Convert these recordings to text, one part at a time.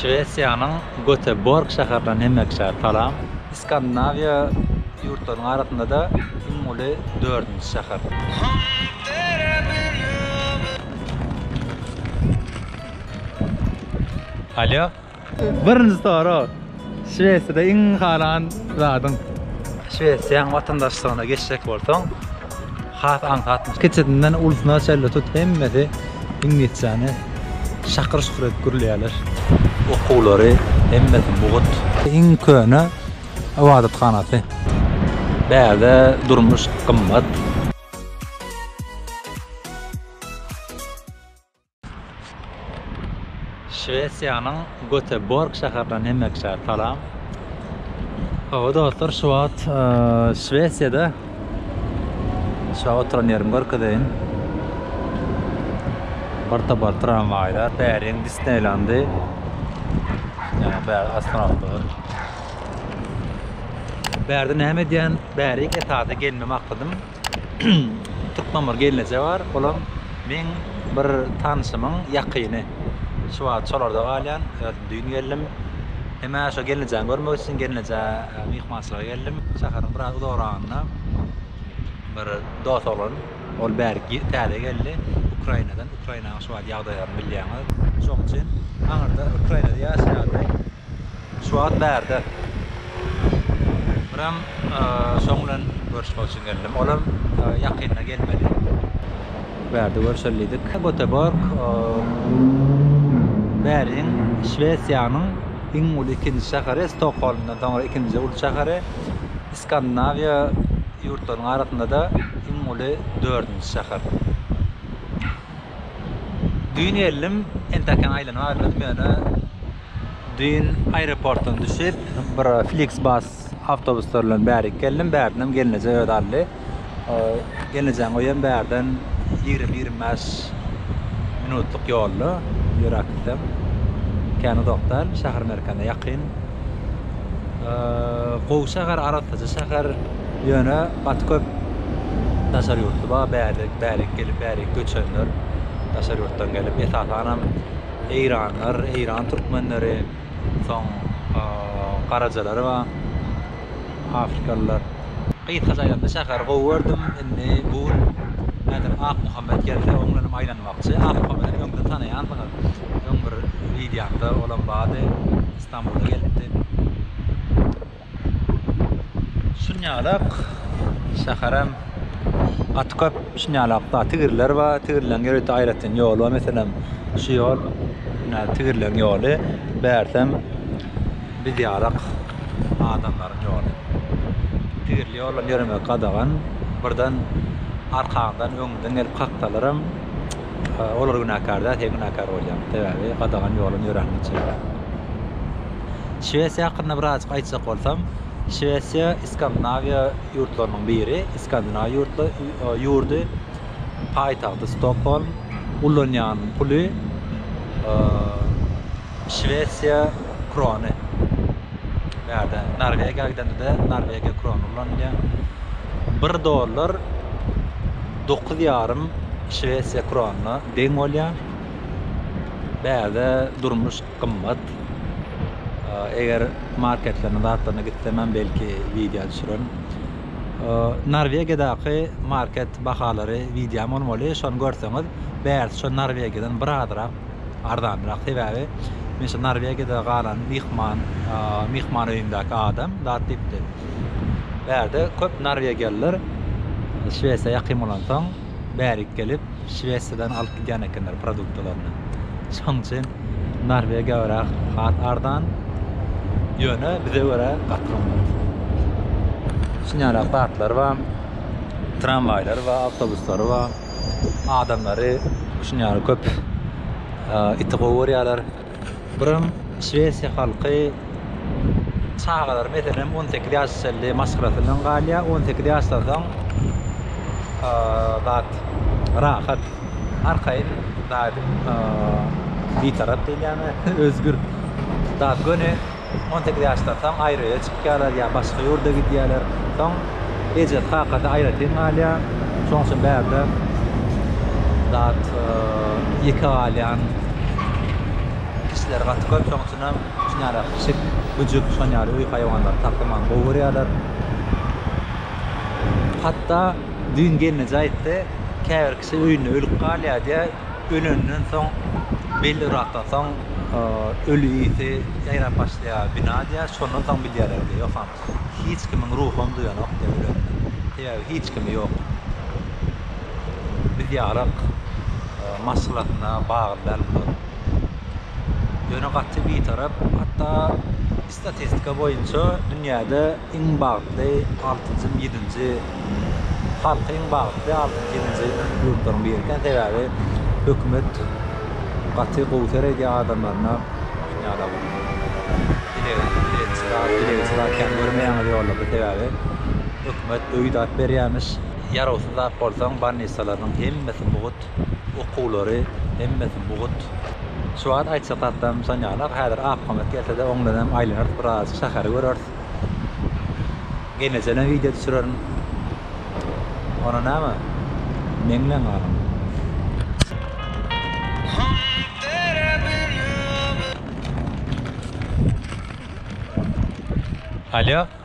Şwesiýanyň Göteborg şäherinden hem ekşär salam. Skandinawiýa ýurtlarynyň arasynda-da iň uly dördünji şäher. Alýo. Birinji sorag. Şwesiýada iň halan zadyň? Şwesiýanyň watandaşlygyna geçjek bolsaň, has aňsatmyş. Kiçisinden ulusyna çenli tut hemmesi iňlisçäni şakyr şukur edip gürleýärler. Okuwlary hemmesi mugt. Iň köne ybadathanasy. Bärde durmuş gymmat. Şwesiýanyň Göteborg şäherinden hemmekiçä salam. Hawa dostlar, şu wagt e, Şwesiýada şu oturan ýerimi görkezeýin. Bir topar tramwaýlar, Päriň Disneýlandy. Ýa bäri astronawtlar. Bärde näme edýän? Bärik esasy gelme maksadym. Türkmen bir gelneje bar, olam meň bir tanşymyň ýakyny. Şu wagt şolarda galýan, özüm düýn geldim. Hem-ä şo gelnejäni görmek üçin gelnejä myhmançylyga geldim. Şäheriň biraz uzagragynda bir dos oglan, ol bäri täze geldi, Ukrainadan. Ukrainanyň şu wagt ýagdaýlaryny bilýäňiz. Şonuň üçin aňyrda Ukrainada ýaşaýardy. Şu wagt bärde. Biram şoň bilen görüşmek üçin geldim. Olam ýakynda gelmeli. Bärde görşelidik. Göteborg bäriň Şwesiýanyň iň uly ikinji şäheri, Stokholmdan soňra ikinji uly şäheri, Skandinawiýa ýurtlarynyň arasynda-da iň uly dördünji şäher. Düýn geldim, entäkem aýlanyp agyrmadym, ýöne düýn aeroportdan düşüp, bir Flixbus awtobuslar bilen bärik geldim, bärdinem gelneje özi aldy. Gelnejeň öýem bärden ýigrimi, ýigrimi bäş minutlyk ýolda, ýöräp gitsem, kän uzak däl, şäher merkezine ýakyn. Gowy şäher arassaja şäher ýöne gaty köp daşary ýurtly bar bärlik bärik gelip bärik göçenler daşary ýurtdan gelip esasanam eýranlar eýran türkmenleri soň garajalar bar afrikalylar gysgaça aýdamda şäheri gowy gördüm indi bu gün häzir akmuhammet gelse oň bilenem aýlanmakçy akmuhammedem öňden tanaýansyňyz öň bir wideomda olam bardy Stambula gelipdi. Şunýalak şäherem gaty köp şunýalak da tigirler bar. Tigirleriň ýörite aýratyn ýoly bar. Meselem, şu ýol ine tigirleriň ýoly. Bärsem biz ýalak adamlaryň ýoly. Tigirli ýoldan ýöremek gadagan. Birden arkaňdan, öňüňden gelip kaksalaram. Olar günäkär däl, sen günäkär bolýaň, sebäbi gadagan ýoldan ýöräniň üçin. Şwesiýa hakynda birazajyk aýtjak bolsam, Şwesiýa Iskandynawiýa ýurtlarynyň biri, Iskandinaw ýurdy, paýtagty Stokgolm, ulanýan puly, Şwesiýa krony. Bärde Norwegiýa gidende-de Norwegiýa krony ulanylýar. Bir dollar dokuz ýarym Şwesiýa kronyna deň bolýar. Bärde durmuş gymmat. Eger marketleriň zatlaryna gitsem hem belki wideo düşürerin. Norwegiýadaky market bahalary wideom bolmaly, şony görseňiz, bärsi şo Norwegiýadan bir azrak. arzanrak sebäbi men şu Norwegiýada galan myhman myhman öýündäki adam zat diýipdi. Bärde köp norwegiýalylar Şwesiýa ýakyn bolansoň bärik gelip Şwesiýadan alyp gidýän ekenler produktlaryny. Şoň üçin Norwegiýa biraz has arzan. Ýöne bize görä gaty gymmat. Şunyara zatlar bar. Tramwaýlar bar, awtobuslary bar. Adamlary şunuň ýaly köp iti gowy görýärler. Birem şwesiýa halky çagalar meselem on sekiz ýaş çenli maşgalasy bilen galýar, on sekiz ýaşdan soň zat rahat, arkaýyn zat, bitarap diýilýärmi, özgür zat göni On sekiz ýaşdan soň aýry-öýe çykýarlar ýa başga ýurda gidýärler. Soň ejesi, kakasy aýratyn galýar. Şonuň üçin bärde zat ýeke galýan kişiler gaty köp. Şonuň üçin hem şuny ýaly pişik, güjük, şony ýaly öý haýwanlary saklamagy gowy görýärler. Hatda düýn gelneje aýtdy, käbir kişi öýünde ölüp galýar diýýär. Ölenden soň belli yrakdan soň öli ýiti ýaýrap başlaýar bina diýýär şondan soň bilýärler diýýär ýogsam hiç kimiň ruham duýanok diýýär ölenini sebäbi hiç kimi ýok biz ýalyk maşgalasyna bagly däl bular ýöne gaty bitarap hatda Statistika boýunça dünýäde iň bagtly altynjy, ýedinji, halky iň bagtly altynjy, ýedinji ýurtlaryň biri eken. Sebäbi hökümet gaty gowy seredýär adamlaryna. Dünýäde bu dilegçi zat kän görmeýäňiz ýollarda. Sebäbi hökümet öý zat berýämiş. Ýarawsyz zat bolsaň, bannisalarynyň hemmesi mugt. Okuwlary hemmesi mugt. Şu wagt aýtjak zatlarym şon ýaly. Häzir akpamat gelse-de oňdan hem aýlanarys biraz şäheri göreris. Gelnejenem wideo düşürerin. Ona näme? Meň bilen galyň. Alýo.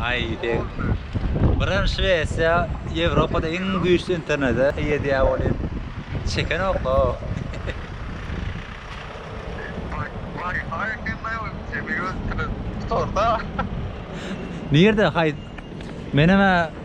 Aý deň. Birem Şwesiýa Ýewropada iň güýçli internete eýe diýýä welin çekenokla. Nirde haý menem-ä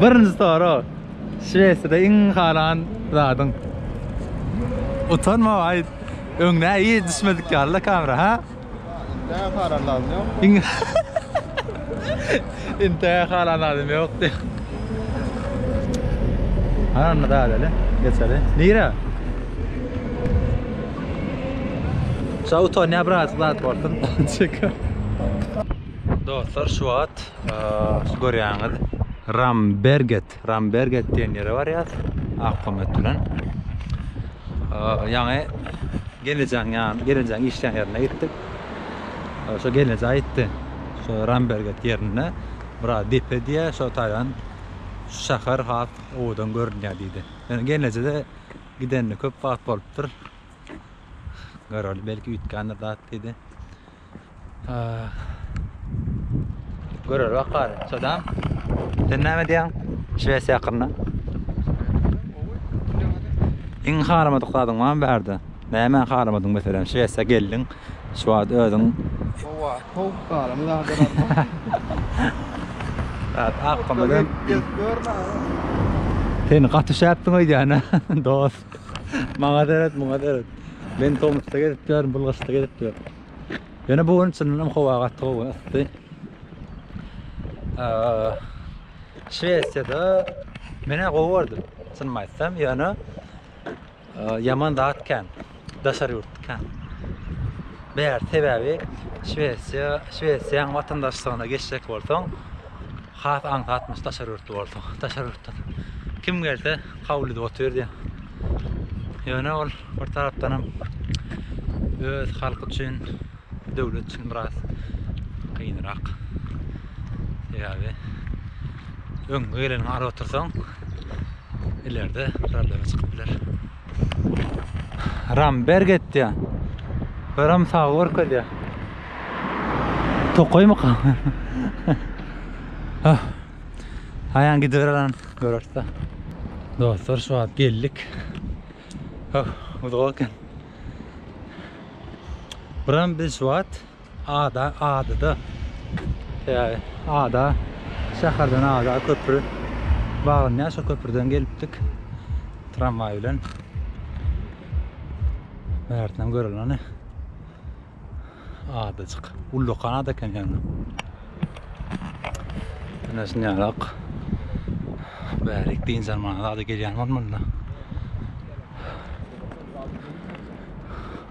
Birinji sorag. Şwesiýada iň halan zadyň? Utanma aýt. Öňde ir düşmedik ýalyda kamera, ha? Intää halan zadym ýok. Intää halan zadym ýok diýýä. Halan zat ele. Geçeli. Nirä? Şa utanýa birazajyk zat bolsun. Çekil. Dostlar şu wagt şu görýäňiz Ramberget, Ramberget diýen ýere barýas ak komet bilen. Ýaňy gelnejaň ýan, gelnejaň işleýän ýerine gitdik. Şu gelneje aýtdy. Şu Ramberget ýerinde bir depe diýýär, şu taýdan şäher has owadan görünýär diýdi. Ýöne gelnejede gidenine köp wagt bolupdyr. Göreli belki üýtgändir zat diýdi. Görer bakar. Sadam. Sen näme diýýäň? Şwesiýa hakynda. Iň haramadyk zadyň bar bärde? Näme haramadyň meselem? Şwesiýa geldiň. Şu wagt özüň Howa, sowuk galym zady galma. Zat akgymydan. Seni gaty şäpdiň öýdýän-ä, dost. Maňa seret, muňa seret. Men tomusda gezip ýörün, bul gyşda gezip ýör. Ýöne bu gün çyndanam howa gaty gowy, ysdy. Şwesiýada menä gowy gördüm, çynymy aýtsam, ýöne ýaman zat kän, daşar ýurt kän. Bär sebäbi Şwesiýa, Şwesiýaň watandaşlygyna geçjek bolsaň, Has aňsat biz daşary ýurtly bolsaň, daşary ýurtdan kim gelse kabul edip oturýar. Ýöne ol bir tarapdanam öz halky üçin, döwlet üçin biraz kynrak. Sebäbi öňüňe geleniňi alyp otursaň, ilerde problema çykyp biler. Ram berk etýär. Ram sag görkezýär. Tokaýmyka? Ah. Aýan gidibererin görerse. Dostlar şu wagt geldik. Ah, uzak eken. Buram biz şu wagt Ada adyda ýaly ada şäherden ada köpri baglanyar şo köprüden gelipdik tramwaý bilen bärtnem göreli ony adajyk ullakan ada eken ýagny ine şunýalak bärik dynç almana zady gelýän bolmalyda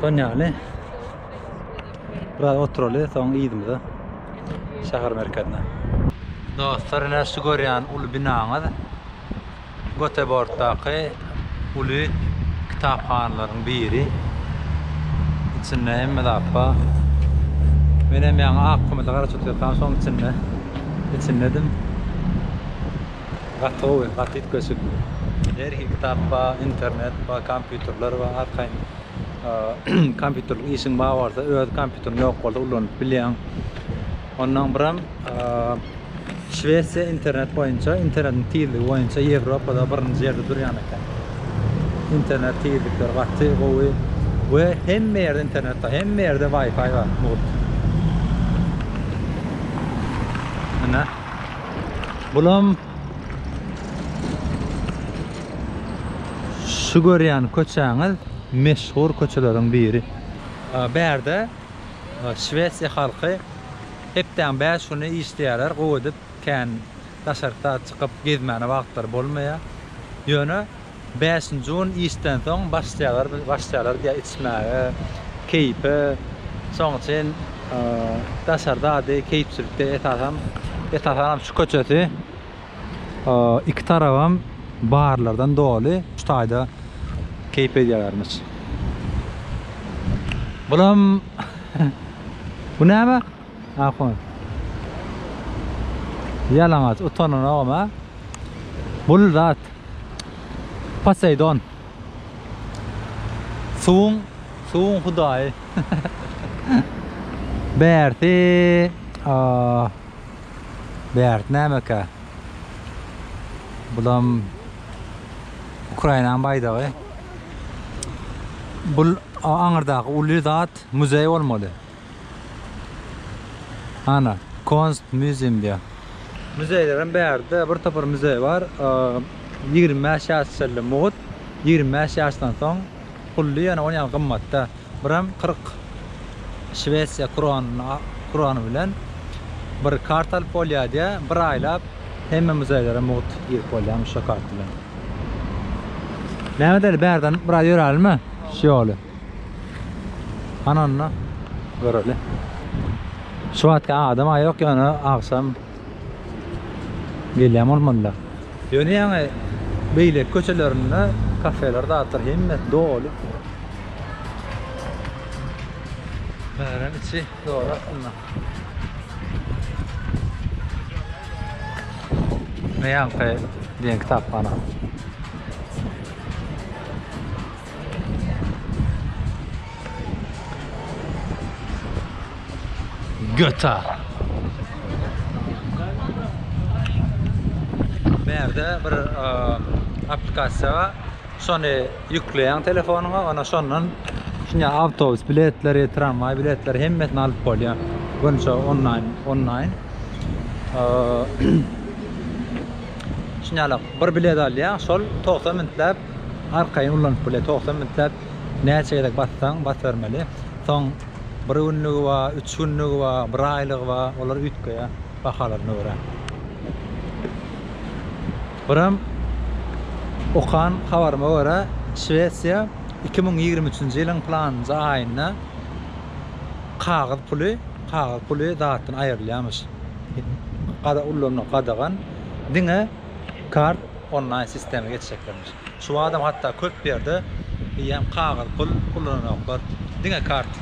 Son yani biraz oturaly soň ýyzymyza şäher merkezine. Dostlar, ine şu görýän uly binaňyz Göteborgdaky uly kitaphanalaryň biri. İçinde hemme zat bar. Men hem ýaňy ak gumyda garaşyp otursam şoň içinde içindedim. Gaty gowy, gaty üýtgeşik. Her hili kitap bar, internet bar, kompýuterler bar, arkaýyn kompýuterlik işiň bar bolsa, öz kompýuteriň ýok bolsa ulanyp bilýäň. Ondan biram Şwesiýa internet boýunça, internetiň tizligi boýunça Ýewropada birinji ýerde durýan eken. Internet tizlikleri gaty gowy we hemme ýerde internet bar, hemme ýerde Wi-Fi bar mugt. Ine. Bulam şu görýän köçäňiz meşhur köçeleriň biri. Bärde Şwesiýa halky hepdäň bäş güni işleýärler, gowy edip kän daşaryk zat çykyp gezmäne wagtlary bolmaýar. Ýöne Bäşinji gün işden soň başlaýarlar başlaýarlar diýýär içmäge, keýpe. Şoň üçin daşarda ady keýpçilikde esasan esasanam şu köçesi iki tarabam barlardan doly. Şu taýda keýp edýärlermiş. Bulam bu näme? Ahun. Ýalaňaç, utananogam a. Bul zat. Poseidon. Suwuň, suwuň hudaýy. Bärsi, a Bärt nämeka? Bulam Ukrainanyň baýdagy. Bul aňyrdaky uly zat muzeý bolmaly. Ana, Konst Müzim diýýär. Müzeýlerem bärde, bir topar müzeý bar. Ýigrimi bäş ýaş şeýle mugt, ýigrimi bäş ýaşdan soň pully, ýöne ony ýaly gymmatda. Birem kyrk şwesiýa kronyny, krony bilen bir kart alyp bolýar diýýär. Bir aýlap hemme müzeýlere mugt girip bolýarmyş şo kart bilen. Mehmet Eli, bärden biraz ýörälimmi şu ýoly? Ana onda göreli. Şu wagtki adam aý ýok ýöne agşam gelýän bolmalylar. Ýöne ýaňy beýleki köçelerinde kafeler zatlar hemmesi doly. Şäheriň içi doly aslynda. Näme ýaňky diýen kitaphana. Göta. Bärde bir aplikasiýa bar. Şony ýükleýäň telefonyňa, ana şondan şuňa awtobus biletleri, tramway biletleri hemmesini alyp bolýar. Bunça onlaýn, onlaýn. Şuňa bir bilet alýaň, şol 90 minutläp Arkaýyn ulanyp bilýär. Togsan bilsek näçe gezek bassaň basybermeli. Soň bir günlügi bar, üç günlügi bar, bir aýlygy bar. Olar üýtgeýär bahalaryna görä. Birem okan habaryma görä Şwesiýa iki müň ýigrimi üçünji ýylyň planynja aýynda kagyz puly kagyz puly zatdan aýrylýarmyş. Ulanmak gadagan. Diňe kart onlaýn sistema geçjeklermiş. Şu badam hatda köp ýerde eýýäm kagyz pul ulananoklar, diňe karta.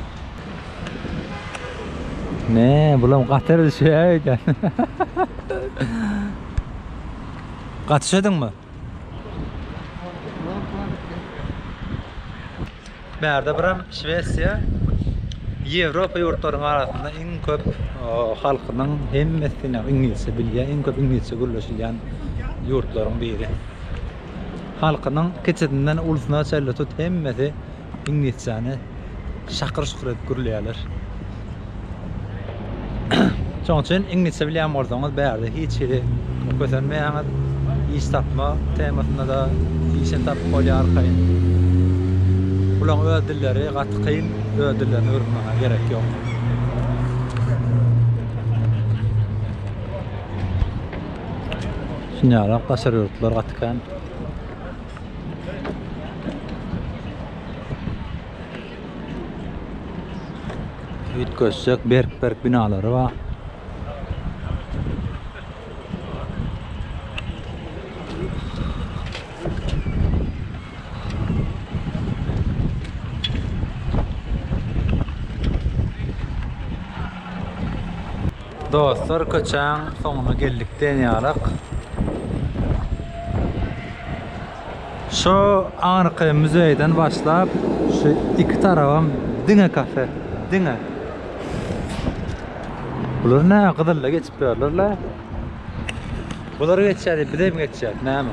Ne, bulam gatyr düşýäý dä. Gaty üşediňmi? Bärde biram Şwesiýa Ýewropa ýurtlarynyň arasynda iň köp halkynyň hemmesine iňlisçe bilýän, iň köp iňlisçe gürleşilýän ýurtlaryň biri. Halkynyň kiçisinden ulusyna çenli tut hemmesi iňlisçäni şakyr-şukur edip gürleýärler. Şoň üçin iňlisçe bilýän bolsaňyz bärde hiç hili kösenmeýäňiz. Iş tapma temasynda-da işini tapyp bolýar arkaýyn. Bularyň öz dilleri gaty kyn, öz dillerini öwrenmäňe gerek ýok. Düşünýärem, daşary ýurtlar gaty kän. Üýtgeşjek berk-berk binalary bar. Dostlar köçäň soňuna geldik diýen ýalyk. Şu aňyrky muzeýden başlap, şu iki tarabam diňe kafe, diňe. Bular näme gyzylla geçip ýörler-le? Bular geçýär diýip, biz hem geçýäris, näme?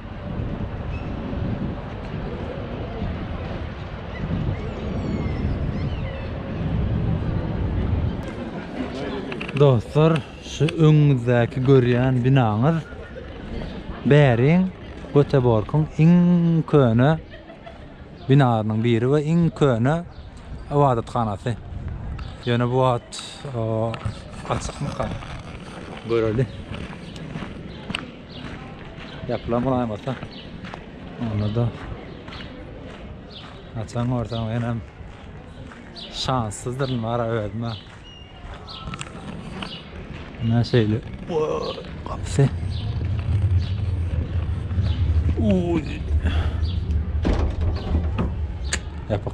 Dostlar, şu öňüňizdäki görýän binaňyz Bäriň Göteborgyň iň köne binalarynyň biri we iň köne ybadathanasy. Ýöne bu wagt açykmyka? Göreli. Yapılan bulan olsa. Onda da açan görsem ben hem şanssızdır var özüme. Ne şeyle kapısı. Uy. Yapık.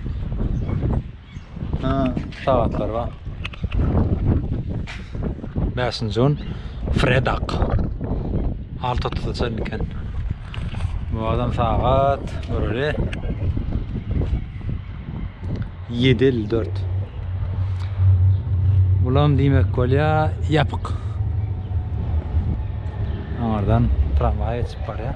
Ha. Sagatlar bar. 5-nji gün Fredak. 6.30-da çenli eken. Bu adam sagat göreli. 7.54. Bulam diýmek bolýar, ýapyk. Aňardan tramwaý geçip barýar.